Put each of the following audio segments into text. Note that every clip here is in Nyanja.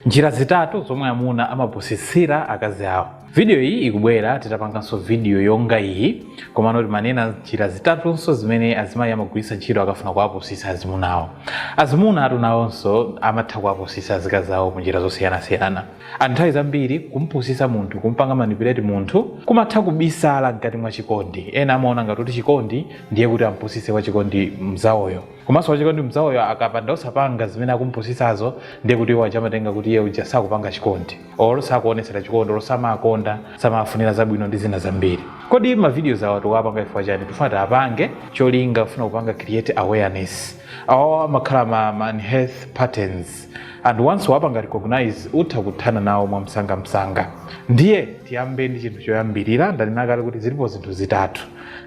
Njira zitatu zomwe amuna amapusitsira akazi awo. Video iyi ikubwera titapanganso video yonga iyi komano timanena njira zitatunso zimene azimayi amagwiritsa ntchito akafuna kuwapusitsa azimuna awo. Azimuna atu nawonso amatha kuwapusitsa azikazi awo mu njira zosiyanasiyana. Anthu nthawi zambiri kumpusitsa munthu, kumpanga manipulate munthu kumatha kubisala mkati mwa chikondi. Ena amaona ngati kuti chikondi ndiye kuti ampusitse wachikondi mnzawoyo. Komanso wachikondi mzawoyo akapanda osapanga zimene akumupusitsazo ndiye kuti iwo aja amatenga kuti iye uja sakupanga chikondi or sakuonetsera chikondi or samawakonda samawafunira zabwino ndi zina zambiri. Kodi ma videos awa tikuwapanga chifukwa chani? Tikufuna tiapange cholinga kufuna kupanga create awareness. Awawa amakhala ma, ma unhealthy patterns. and once wapanga recognize utha kuthana nawo mwamsangamsanga ndiye tiyambe ndi chinthu choyambirira ndanena kale kuti zilipo zinthu zitatu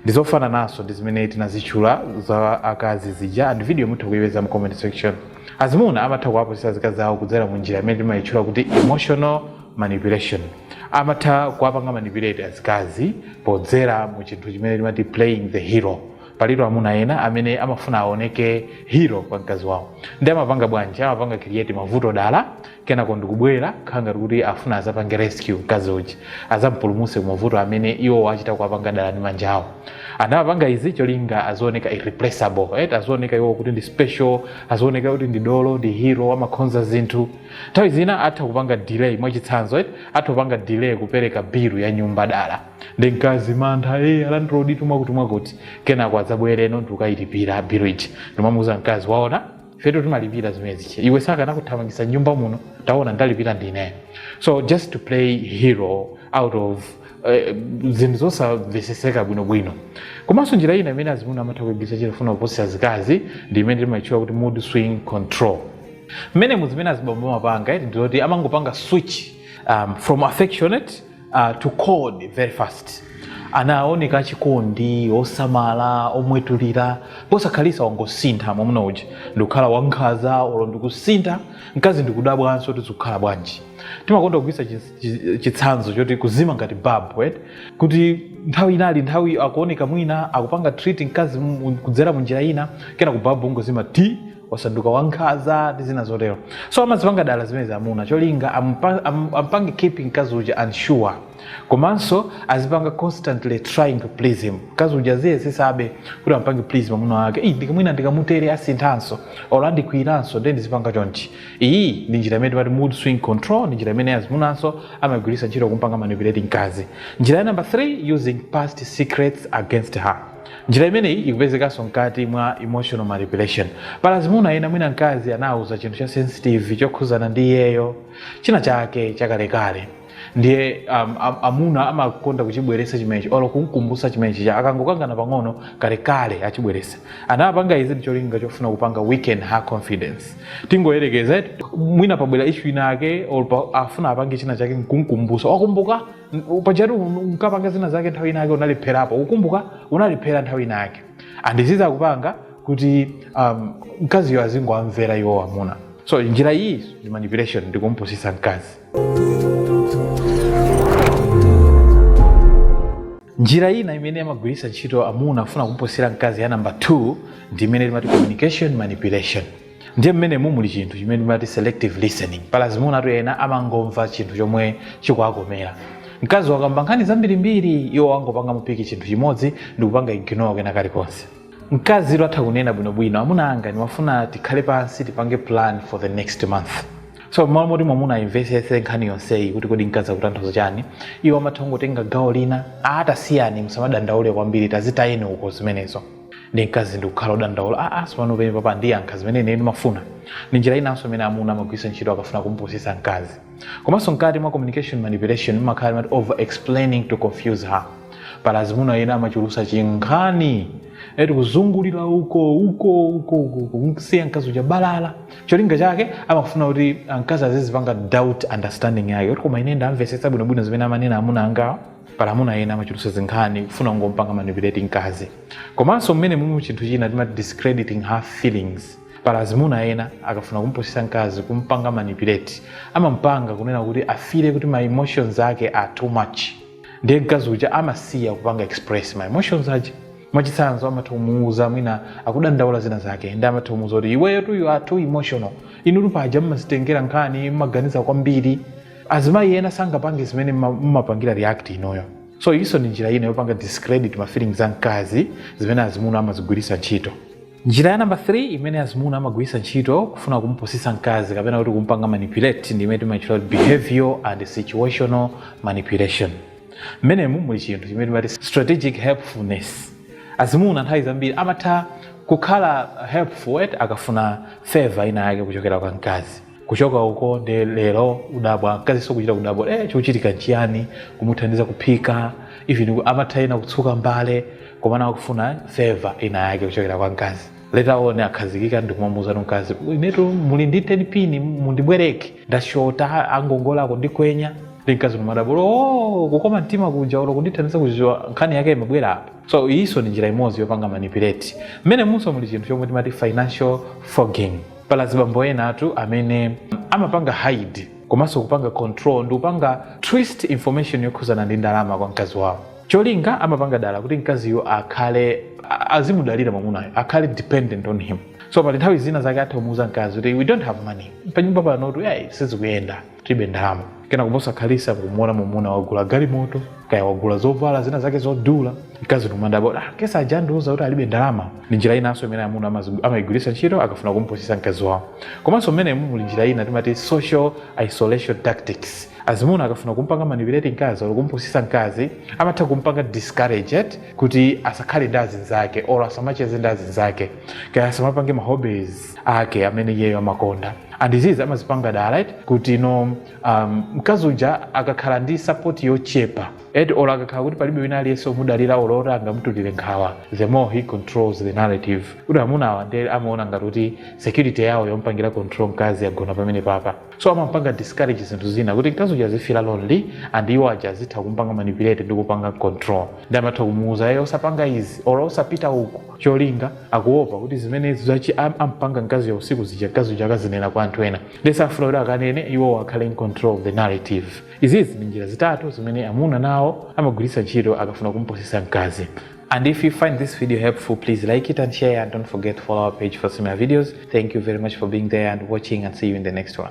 ndizofanananso ndi zimene tinazitchula za akazi zija and video mutha kuyipeza mu comment section azimuna amatha kuwapusitsa azikazi awo kudzera mu njira imene timayitchula kuti emotional manipulation amatha kuwapanga manipulate azikazi podzera mu chinthu chimene timati playing the hero palitu amuna ena amene amafuna aoneke hero kwa mkazi wawo nde amapanga bwanji amapanga create mavuto dala kenako ndikubwera khala ngati kuti afuna azapange rescue mkazi uja azampulumutse ku mavuto amene iwo achita kuwapanga dala ndi manja awo and amapanga izi cholinga azioneka irreplaceable right? azioneka iwo kuti ndi special azioneka kuti ndi dolo ndi hero amakonza zinthu nthawi zina atha kupanga delay mwachitsanzo right? atha kupanga delay kupereka bilu ya nyumba dala ndi mkazi mantha a landloditu mwakuti mwakuti kenako adzabwereno ndikukayilipira bilu ija ndimamuuza mkazi waona fetu timalipira zimenezi iwe akanakuthamangitsa nyumba muno taona ndalipira ndine so just to play hero out of eh, zinthu zosamveseseka bwinobwino komanso njira ina imene azimuna amatha kuigwiritsa ntchito kufuna kupusitsa azikazi ndi imene timaitchula kuti mood swing control mmene muzimene azibambo amapanga eti ndizoti amangopanga switch um, from affectionate uh, to cold very fast anaoneka achikondi osamala omwetulira posakhalitsa wangosintha mwamuna uja ndikukhala wankhaza olo ndikusintha mkazi ndikudabwanso kuti zikukhala bwanji timakonda kugwiritsa chitsanzo choti kuzima ngati babu right? kuti nthawi ina ili nthawi akuoneka mwina akupanga treat mkazi kudzera munjira ina kenako babu kungozima ti wasanduka wankhaza ndi zina zotero so amazipanga dala zimenezi amuna cholinga ampa- am- ampange keeping mkazi uja unsure komanso azipanga constantly trying to please him mkazi uja aziyesetsabe kuti ampange please mwamuna wake "Ih, ndikamwina ndikamutere asinthanso or andikwiyiranso nde ndizipanga chonchi iyi ndi njira imene timati mood swing control ndi njira imene azimunanso amagwiritsa ntchito kumpanga manipulate mkazi njira ya number 3 using past secrets against her njira imeneyi ikupezekanso mkati mwa emotional manipulation pala azimuna ena mwina mkazi anawuza chinthu cha sensitive chokhuzana ndi iyeyo china chake chakalekale ndiye um, am- amuna amakonda kuchibweresa chimenechi olo kumkumbusa chimenechi cha akangokangana pang'ono kalekale achibweresa anapanga izi ndicholinga chofuna kupanga weaken her confidence tingoyerekeze mwina pabwera ishu ina ake olo pa- afuna apange china chake nkumkumbusa wakumbuka N- pajatu un- unkapanga zina zake nthawi ina yake unalepherapo ukumbuka unalephera nthawi ina yake andiziza kupanga kuti um, mkaziyo azingowamvera iwo amuna so njira iyi ndi manipulation ndi kumpusitsa mkazi njira ina imene amagwiritsa ntchito amuna kufuna kumpusitsa mkazi ya namba 2 ndi imene timati communication manipulation ndiye mmenemu muli chinthu chimene timati selective listening pala azimunatu ena amangomva chinthu chomwe chikuwakomera mkazi wakamba nkhani zambirimbiri iwo angopangamo piki chinthu chimodzi ndikupanga ignore kwina kulikonse mkazi ilo atha kunena bwinobwino amuna anga ndimafuna tikhale pansi tipange plan for the next month so mmalo moti mwamuna ayimvesese nkhani yonseyi kuti kodi mkazi akutanthauza chani iwo amatha kungotenga gawo lina ah tasiyani musamadandaule kwambiri tazitayeni uko zimenezo ndiye mkazi ndikukhala odandaula a sipano penepapa andiyankha zimene ine ndimafuna ndi njira inanso imene amuna amagwiritsa ntchito akafuna kumupusitsa mkazi komanso mkati mwa communication manipulation mumakhala imati over explaining to confuse her pala azimuna ena amachulusa chinkhani eti kuzungulira uko uko uko uko uko kumsiya mkazi uja balala cholinga chake amafuna kuti mkazi azizipanga doubt understanding yake kuti koma ine ndamvetsetsa bwinobwino zimene amanena amuna angawa pala amuna ena amachulutsa zinkhani kufuna kungompanga manipulate mkazi komanso mmenemu muli chinthu china timati discrediting her feelings pala azimuna ena akafuna kumpusitsa mkazi kumpanga manipulate amampanga kunena kuti afile kuti ma emotions ake are too much ndiye mkazi uja amasiya kupanga express ma emotions aja mwachitsanzo amatha kumuuza mwina akudandaula zina zake ndiye amatha kumuuza kuti iweyotu you are too emotional inutu paja mmazitengera nkhani mmaganiza kwambiri azimayi ena sangapange zimene mma- mmapangira react inuyo so iyinso ndi njira ina yopanga discredit ma feelings a mkazi zimene azimuna amazigwiritsa ntchito njira ya namba 3 imene azimuna amagwiritsa ntchito kufuna kumupusitsa mkazi kapena kuti kumpanga manipulate ndi imene timatchula kuti behavior and situational manipulation mmenemu muli chinthu chimene timati strategic helpfulness azimuna nthawi zambiri amatha kukhala helpful eti akafuna favor ina yake kuchokera kwa mkazi kuchoka uko nde lero kudabwa mkaziso kuchita kudabwa eh chochitika nchiyani kumuthandiza kuphika even ku- amatha ena kutsuka mbale komana akufuna favor ina yake kuchokera kwa mkazi later on akhazikika ndikumamuuza mkazi inetu muli ndi 10 pini mundibwereke ndashota angongola ako andikwenya nde mkazi nkumadabwa oh kukoma mtima kuja olo kundithandiza kuziwa nkhani yake imabwera apa so iyiso ni njira imodzi yopanga manipulate mmene munso muli chinthu chomwe timati financial fogging pali azibambo ena atu amene amapanga hide komanso kupanga control ndi kupanga twist information yokhuzana ndi ndalama kwa mkazi wawo cholinga amapanga dala kuti mkaziyo akhale a- azimudalira mwamunayo akhale dependent on him so pali nthawi zina zake atha kumuuza mkazi kuti we don't have money panyumba panotu yayi sizikuyenda tibe ndalama kenako posakhalisa nkumuona mumuna wagula galimoto kaya wagula zovala zina zake zodula mkazi nkumadabwa ah, paja andiuza kuti alibe ndalama ndi njira inanso imene amuna amazi- amayigwiritsa ntchito akafuna kumpusisa mkazi wawo komanso mmenemu muli njira ina timati social isolation tactics azimuna akafuna kumpanga manipulate mkazi or kumpusisa mkazi amatha kumpanga discouraged kuti asakhale ndi azinzake or asamacheze ndi azinzake kaya asamapange mahobbies ake amene iyeyo amakonda and izizi amazipanga dala kuti no um, mkazi uja akakhala ndi sapoti yochepa eti olo akakhala kuti palibe wina aliyense omudalira olo oti angamutulire nkhawa the more he controls the narrative kuti amuna awa nde amaona ngati kuti security yawo yompangira control mkazi yagona pamenepapa so amampanga discourage zinthu zina kuti mkazi uja azifira lonely and iwo aja azitha kumpanga manipulate ndi kupanga control nde amatha kumuuza iye osapanga izi olo osapita uku cholinga akuopa kuti zimene akuchi- am- ampanga mkazi ya usiku zija mkazi uja akazinena kwa anthu ena nde safuna kuti akanene iwo akhale in control of the narrative izizi ndi njira zitatu zimene amuna nawo amagwiritsa ntchito akafuna kumupusitsa mkazi And if you find this video helpful, please like it and share and don't forget to follow our page for similar videos. Thank you very much for being there and watching and see you in the next one.